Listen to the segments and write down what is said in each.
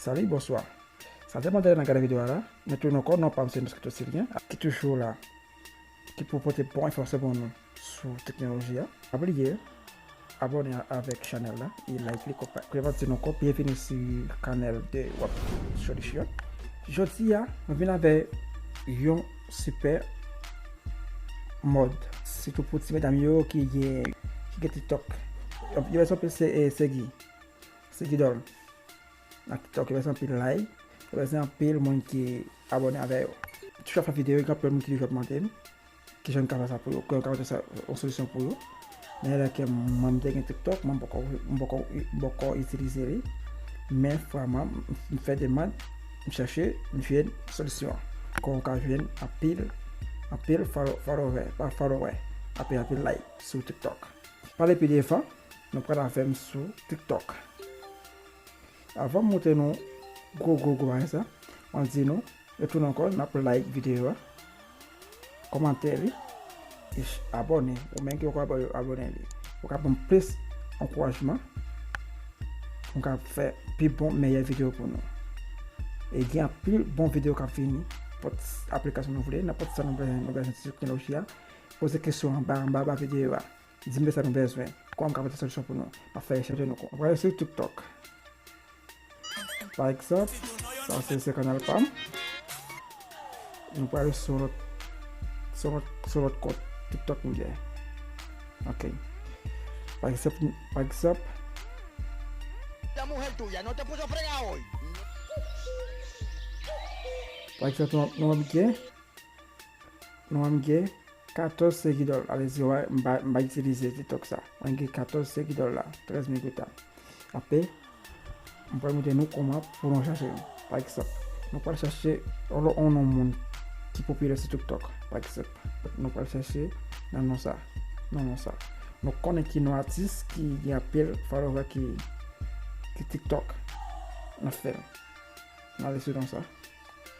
Salut bonswa sa te mande nan gade video a la men tou non kò non pam se moscato sylvien ki toujou la ki pou pote bon enfòmasyon pou nou sou teknoloji a. Pa bliye abone avèk chanèl la e like li konpa. Prevantin ankò byenvini si kanèl de wap solisyon. Jodi a mwen vin avè yon sipè mòd sitou pou ti medam yo ki gen ki gen tiktok. Yon vès anpil se segi se gidòl nan tiktok yon vès anpil lay yon vès anpil moun ki abone avè yo. Toujou ap fè videyo gen anpil moun ki toujou ap mande m Kijan m ka fè sa pou yo, kijan m ka mete sa yon solisyon pou yo. Nan yè la ke mwen te gen tiktok, mwen poko, mwen poko, mwen poko itilize li. Men fwa mwen, m fè demand, m chèche, m jwenn solisyon an. Kon ou ka jwenn anpil, anpil fòlo, fòlowè, pa fòlowè, anpil anpil like sou tiktok. Pale pi devan, nou pral avè m sou tiktok. Avanm montre nou gwo gwo gwo bagay sa map di nou retoun ankò nap like video a kòmante li e abòne ou menm ki poko abòne li pou ka banm plis ankourajman poum ka fè pi bon meyè video pou nou e gen anpil bon video kap vini pot aplikasyon nou vle nan pot sa nou bezwen nan teknoloji a poze kesyon anba anba video a. Di m de sa nou bezwen. Kòman m ka pote solisyon pou nou. M ap fè rechèch de nou. M ap gade sou TikTok. Pa egzanp, sa se se kanal pa m. Nou prale sou lòt, sou lòt, sou lòt kont TikTok m gen. Ok. Pa egzanp, pa egzanp. Pa egzanp nou ap gen. Nwa m gen 14 segidol alezi way m pa m pa itilize tiktok sa mwen gen 14 segidol la 13 mil gota apre m pral montre nou kòman pou nou chache yo pa egzanp nou pral chache on on non moun ki popilè sou tiktok pa egzanp nou pral chache nan non sa nan non sa nou konnen ki non atis ki gen anpil followè ki ki tiktok nan fèl n ale sou non sa.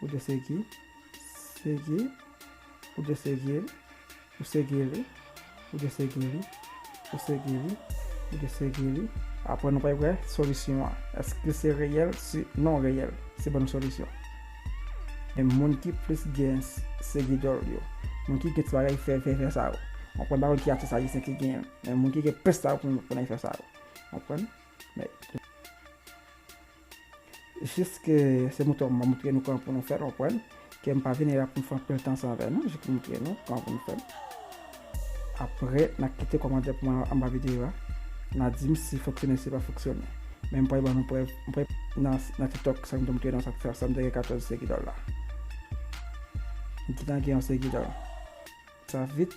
Ou dwe segi, segi, ou dwe segi li, ou segi li, ou dwe segi li, ou segi li, ou dwe segi li. Apre nou pral wè solisyon an. Eske se reyèl? Si non reyèl, se ban nou solisyon. Men moun ki plis gen segi dòl yo, moun ki gen ti bagay fè fè fè sa yo. Mwen konn pa konn ki atis ayisyen ki gen, men moun ki gen plis sa yo konn efè sa yo. Konprann? Men. Jis ke se mouton an m ap moutre nou kòman pou nou fè l, konprann? Ke m pa vini la pou m fè anpil tan san vè non, jis pou m moutre nou kòman pou nou fè l. Aprè, n a kite kòmantè pou mwen anba videyo a, n a di m si fonksyone si pa fonksyone. Men m pral ban nou prèv, m pral nan tiktok sa m te moutre nou an sa fè sa m te gen 14 segidòl la. M gentan gen yon segidòl. Sa vit.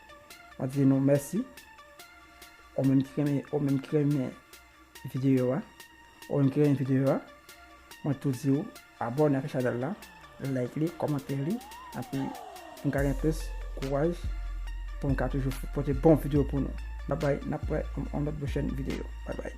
Mwen di nou mèsi. Ou menm ki renmen, ou menm ki renmen videyo a. Ou menm ki renmen videyo a. Mwen tou di ou abone ak chanel la, like li, komante li. Api m ka gen plis kouraj pou m ka toujou pote bon videyo pou nou. Babay, n ap wè on lòt pwochèn videyo. Babay.